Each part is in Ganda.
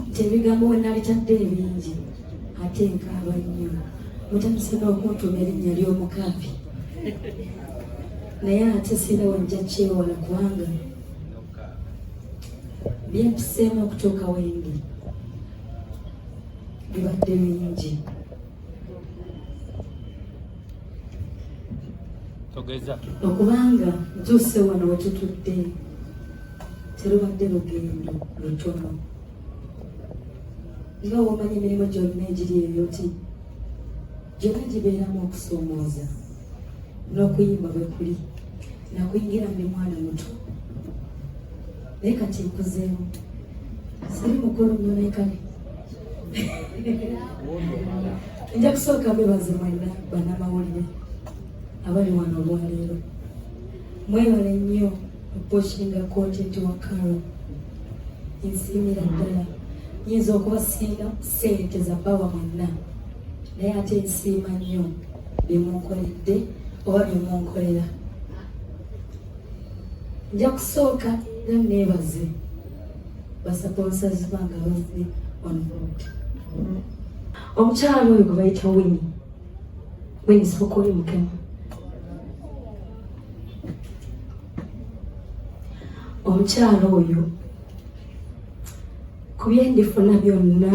nti ebigambo we nabitadde ebingi ate nkaaba nnyo mutandise n'okuntuma erinnya ly'omukaabi naye ate sira wajja kyewola kubanga byempiseemu okutuuka wendi bibadde bingi togeza okubanga ntuuse wano wetutudde terubadde lugendo lutono nga womanyi emirimu gyonna egiri ebyoti gyonna gibeeramu okusoomooza n'okuyimba bwe kuli nakuyingira ndi mwana muto naye kati nkuzeemu siri mukulu nnyo naye kale nja kusooka bebaze mwena banamawulire abali wano olwaleero mwebale nnyo okuposhinga kontenti wa karo ensiimira ddala nyinza okubasinga sente za bawa mwenna naye ate nsiima nnyo bye munkoledde oba bye munkolera nja kusooka era neebaze basaponsazi bange abazze on board omukyala oyo gwe bayita wini wini sokoli mukema omukyala oyo ku bye ndifuna byonna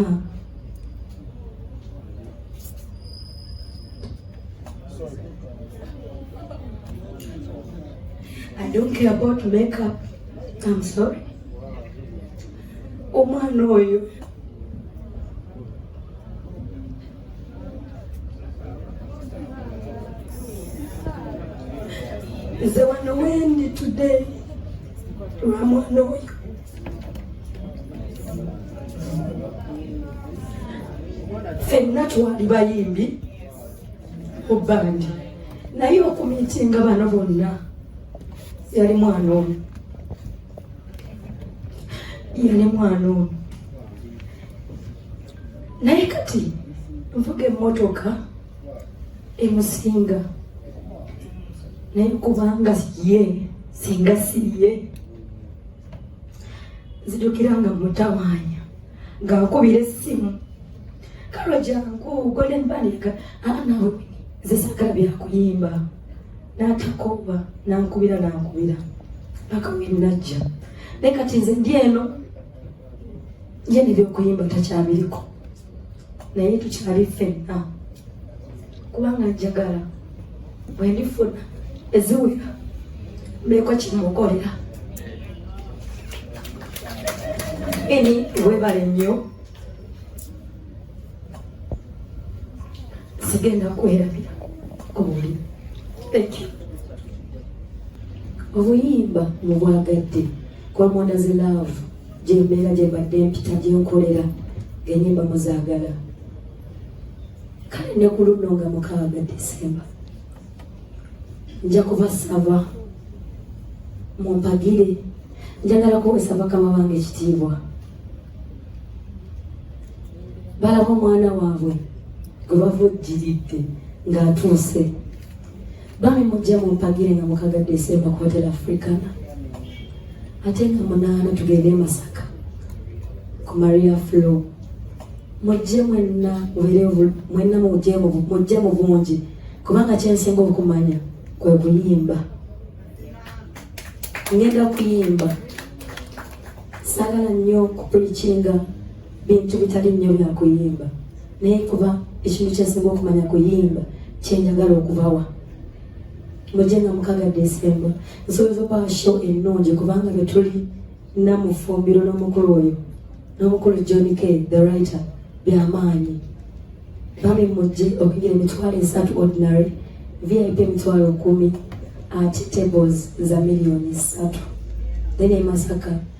I don't care about makeup. I'm sorry. Omwana oyo nze wano wendi today lwa mwana oyo fenna twali bayimbi ku bandi naye okumitinga bano bonna yali mwana omu yali mwana omu naye kati nvuga emmotoka emusinga naye kubanga ye singa si ye nzijukira nga mutawaanya ng'akubira essimu kalo jangu golden banika anawe zisagala byakuyimba n'atakooba n'ankubira n'ankubira paka wenajja naye kati nze ndi eno ye nebyokuyimba takyabiriko naye tukyali ffenna kubanga njagala bwendifuna eziwera mbeeko kimukolera eni webale nnyo sigenda kwerabira oli obuyimba mubwagadde kwamwana ze love gyembeera gyembadde mpita gyenkolera enyimba muzagala kale ne ku luno nga mukaaga desemba nja kubasaba mumpagire njagala kuwesa bakama bange ekitiibwa balaba omwana waabwe gwe bava ojjiridde ng'atuuse bami mujja mumpagire nga mukaga desemba ku hotel africana ate nga munaana tugende e masaka ku maria flo mujje mwenna mwenna mujje mu bungi kubanga kyensinga okumanya kwe kuyimba ngenda kuyimba sagala nnyo kupulikinga bintu bitali nnyo bya kuyimba naye kuba ekintu kyensinga okumanya kuyimba kyenjagala okubawa mujje nga mukaga desemba nsobola okubawa show ennungi kubanga betuli namufumbiro n'omukulu oyo n'omukulu john k the writer byamaanyi bami mujje okugira emitwalo esatu ordinary vip emitwalo kumi ate tables za miliyoni satu then emasaka